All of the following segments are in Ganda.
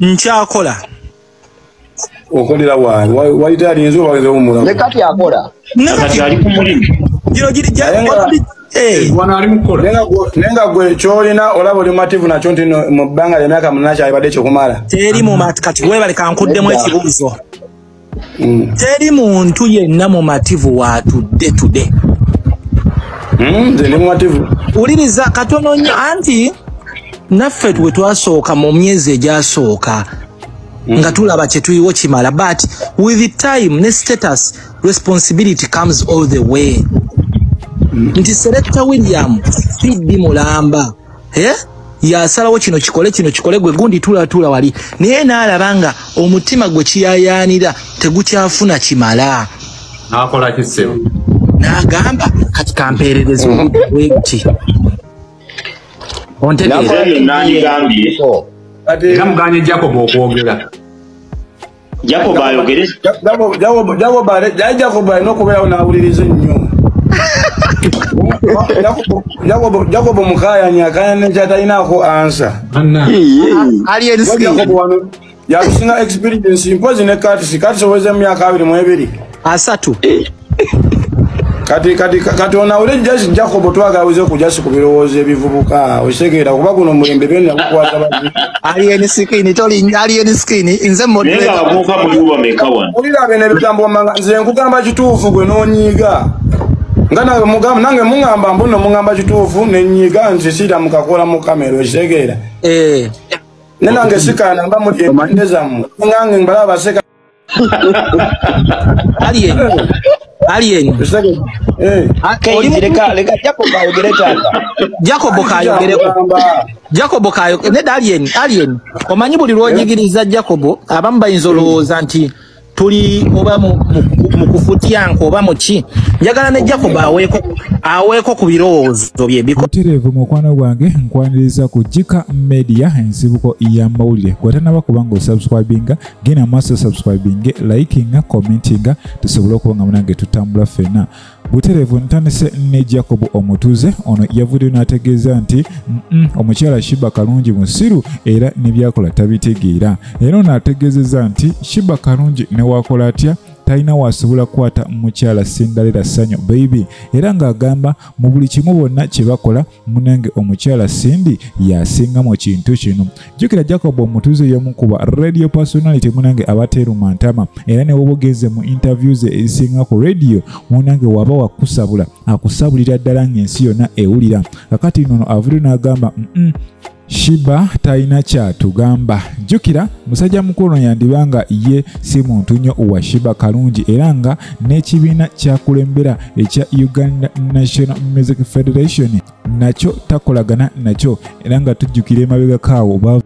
nkyakola okolera waani wayita alinze obawezewo omulamu ne kati akola kati ali ku mulimu gino giri gya Eh. naye nga gwe kyolina olaba oli mumativu nakyo nti mu bbanga lyemyaka munana kyalibadde kyokumala teri mumati kati webale kankuddemu ekibuuzo mm. teri muntu yenna mumativu watudde tude mm, wuliriza mm, katono nyo anti naffe we twasooka mu myezi egyasooka mm. nga tulaba kyetuyiwo kimala but with the time ne status responsibility comes all the way mm. nti selecta william fiddi mulamba eh? yasalawo kino kikole kino kikole gwe gundi tulatula wali naye naalaba nga omutima gwe kiyayaanira tegukyafuna kimala nakola kisebo nagamba kati kampeerereza obudde ontegeera era muganye jakob okwogera Jacob ayogere. Jacob Jacob Jacob bare dai Jacob bare no kubera na ulirize nyo. Jacob Jacob Jacob mukaya nya kaya ne jata ina ko answer. Anna. Alien skin. Jacob wano. Yakusina experience impozi ne kati sikati soweza myaka abiri mu ebiri. asatu eh. kati kati kati ona ule just jacob twaga aweze kujasi kubirowoze bivubuka osekera kuba kuno mulembe bene akwaza ba alien skin toli alien skin inze modwe nega abuka muri uba mekawa ulira bene bitambo manga nze nkugamba kitufu gwe nonyiga ngana mugamba nange mungamba mbuno mungamba kitufu nenyiga nze sira mukakola mu kamera osekera eh nenange sikana mba mu ndeza mu ngange mbala baseka Alien. Alien. Eh. Ah, Kendi leka leka Jacob ayogere tata. Jacob kayogere. Jacob kayogere. Ne Alien, Alien. Omanyi buli lwonyigiriza Jacob abamu bayinza olowooza nti tuli oba mu kufutya nko oba muki njagala ne Jacob aweeko aweeko ku birowoozo bye biko. Mutereevu mukwano gwange nkwaniriza ku Jika Media ensibuko y'amawulire. Gwatanaba kubanga osubscribinga genda maaso subscribinge likinga commentinga tusobole okuba nga munange tutambula ffena butereevu ntandise ne jacob omutuze ono yavuddeyo n'ategeeza nti omukyala shiba kalungi musiru era nebyakola tabitegeera era ono ategeezeza nti shiba kalungi newakola atya talina wasobola kukwata mukyala sindalera sanyu baibi era ng'agamba mu buli kimu bonna kye bakola munange omukyala cindy yasinga mu kintu kino jjukira jacob omutuuze y'omu kuba radio personality munange abateeruma ntama era ne wobogenze mu interview ze ezisinga ku radio munange waba wakusabula akusabulira ddala ng'ensi yonna ewulira kakati nono avudde n'agamba mm -mm. shiba talina kyatugamba jjukira musajja mukulu yandiba nga ye si muntu nnyo wa shiba kalungi era nga n'ekibiina kyakulembera ekya uganda national music federation nakyo takolagana nakyo era nga tujjukira emabegakaawo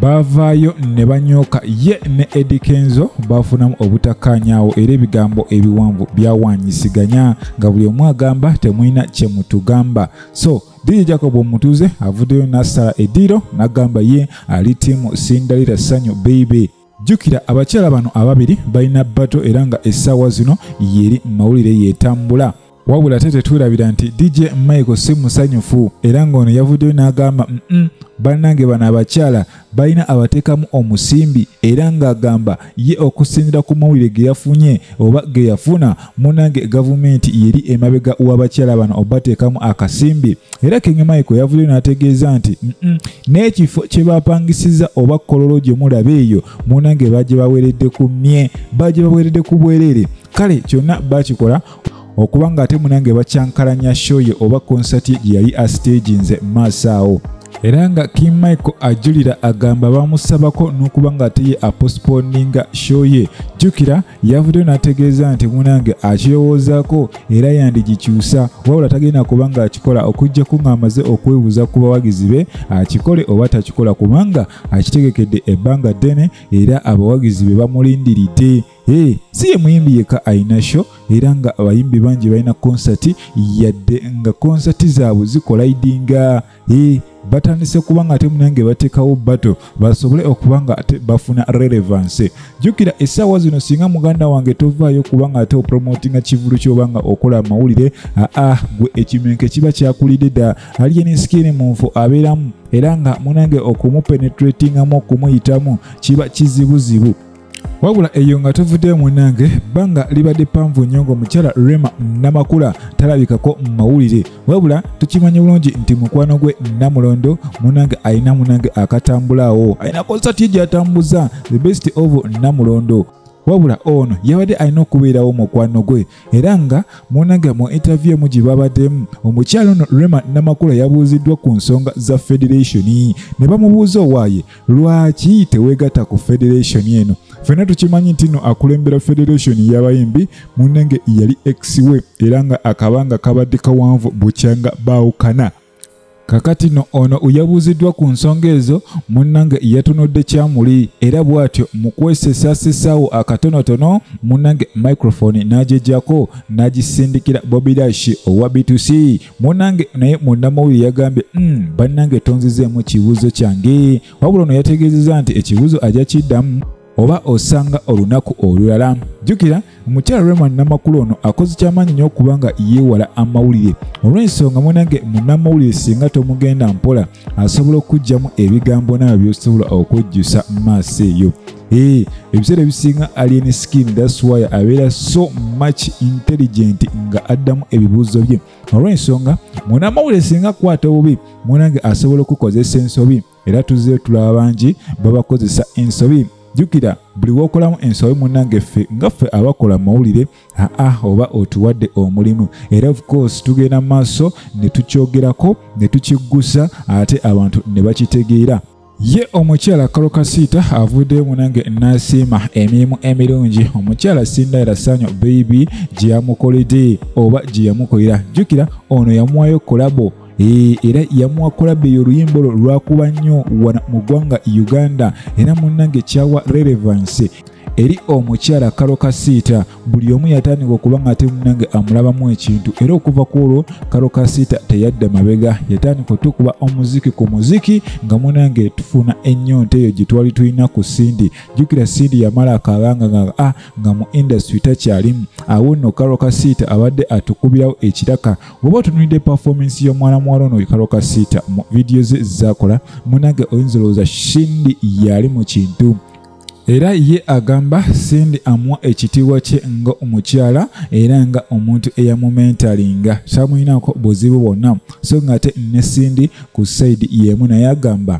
baavaayo ne banyooka ye ne edi kenzo baafunamu obutakkaanyaawo era ebigambo ebiwanvu byawanyisiganya nga buli omu agamba temulina kye mutugamba so DJ Jacob Omutuze avuddeyo n'asala eddiiro n'agamba ye ali tiimu Sindalira Sanyu Baby. jjukira abakyala bano ababiri balina bato era nga essaawa zino yeri mu mawulire yeetambula wabula ate tetwerabira nti dj michael si musanyufu era ng'ono yavuddeyo n'agamba mm banange bano abakyala balina abateekamu omusimbi era ng'agamba ye okusinzira ku mawulire ge yafunye oba ge yafuna munange gavumenti yeri emabega w'abakyala bano obateekamu akasimbi era kenge michael yavuddeyo n'ategeeza nti n'ekifo kye bapangisiza oba kololo gye mulaba eyo munange bagye baweredde ku mye bagye baweredde ku bwereere kale kyonna bakikola okuba nga ate munange bakyankalanya show ye oba konsati ye gye yali astaginze mu maaso awo era nga king michael ajulira agamba bamusabako n'okuba nga ate ye aposponinga show ye jjukira yavuddeyo n'ategeeza nti munange akirowoozaako era yandigikyusa wabula tagenda kuba nga akikola okuggyako ng'amaze okwebuuza ku bawagizi be akikole oba takikola kubanga akitegekedde ebbanga ddene era abawagizi be bamulindiridde Hey, si ye muyimbi yeka alina show era nga abayimbi bangi balina konsati yadde nga konsati zaabwe zikolaidinga hey, batandise kuba nga ate munange bateekawo bato basobole okuba nga ate bafuna relevanse jjukira essaawa zino singa muganda wange tovaayo kuba nga ate opromotinga kivulu kyoba nga okola amawulire aa gwe ekimenke kiba kyakulidde dda aliye nensikini mu nfu abeeramu era nga munange okumupenetratingamu okumuyitamu kiba kizibuzibu wabula eyo nga tuvuddeyo munange bbanga libadde panvu nnyo ng'omukyala rema namakula talabikako mu mawulire wabula tukimanyi bulungi nti mukwano gwe namulondo munange alina munange akatambulaawo alina konsati ye gyatambuza the best of namulondo wabula ono yabadde alina okubeerawo mukwano gwe era nga munange mu interview emu gye babaddemu omukyalo ono rema namakula yabuuziddwa ku nsonga za federation ne bamubuuza owaaye lwaki teweegatta ku federation eno fena tukimanyi nti no akulembera federation yabayimbi munange yali ex we era nga akabanga kabadde kawanvu bukyanga baawukana kakati no ono uyabuuziddwa ku nsonga ezo munnange yatunudde kyamuli era bw'atyo mu kwesesasesaawo akatonotono munnange microfoni n'agyejjako n'agisindikira bobidashi owa b2c munnange naye munnamawulire yagambye mm, bannange tonzizeemu kibuuzo kyange wabula ono yategeezeza nti ekibuuzo ajja kiddamu oba osanga olunaku olulala jjukira omukyala rema namakulu ono akoze kyamaanyi nnyo okuba nga yeewala amawulire olw'ensonga munange munamawulire singa tomugenda mpola asobola okugyamu ebigambo naawe byosobola okwejjusa mu maaso eyo ee ebiseera ebisinga alien skin daswaya abeera so much intelligent nga addamu ebibuuzo bye olw'ensonga munamawulire singa kwata obubi munange asobola okukozesa ensobi era tuzze tulaba bangi babakozesa ensobi jukira buli wokolamu ensobi munange ffe nga ffe abakola mawulire aa oba otuwadde omulimu era of course tugenda mu maaso ne tukyogerako ne tukiggusa ate abantu ne bakitegeera ye omukyala kalo kasiita avuddeyo munange nasiima emirimu emirungi omukyala sindayira sanyo beibi gye yamukoledde oba gye yamukolera jjukira ono yamuwayo kolabo Eh, era yamuwa kolabe y'oluyimba olwo lwakuba nnyo wano mu ggwanga uganda era munnange kyawa relevance eri omukyala kalo kasiita buli omu yatandika okuba nga ate munange amulabamu ekintu era okuva ku olwo kalo kasiita teyadda mabega yatandika otukuba omuziki ku muziki nga munange tufuna ennyonta eyo gye twali tulina ku sindi jjukira sindi yamala akabanga nga a ah, nga mu indasitry takyalimu awo nno kalo kasiita abadde atukubirawo ekiraka woba otunulidde performance y'omwana muwala ono wekalo kasiita mu vidiyo ze zakola munange oyinza olowooza shindi yali mu kintu era ye agamba sindi amuwa ekitiibwa kye nga omukyala era nga omuntu eyamumentalinga samuyinako buzibu bwonna so nga ate ne sindi ku saidi yemu naye agamba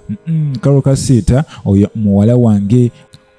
kalo kasiita oyo muwala wange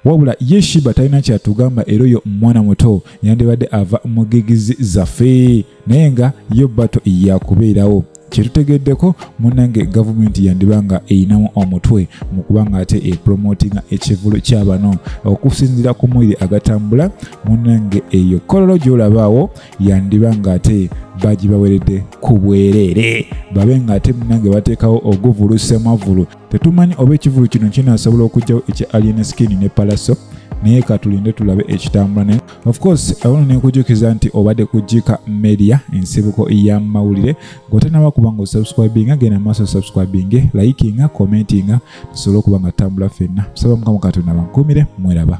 wabula ye shiba talina kyatugamba era oyo mwana muto yandibadde ava mu gigizi zaffe naye nga yo bato yakubeerawo kyetutegeddeko munange gavumenti yandiba nga eyinamu omutwe mu kuba nga ate epromotinga ekivulu kya bano okusinzira ku mwiri agatambula munange eyo kololo gyolabaawo yandiba nga ate bagibaweredde ku bwereere babe nga ate munange bateekawo oguvulu semavulu Tetumanyi oba ekivulu kino kinaasobola okugyawo ekya Alien Skin ne Palaso naye katulinde tulabe ekitambula naye of course awona nekujukiza nti obadde ku jika media ensibuko ya mawulire gotanaba kuba nga osubscribinga genda maaso subscribinge likinga commentinga tusobole okuba nga tutambula fenna tusaba mukama katonda bankumire mweraba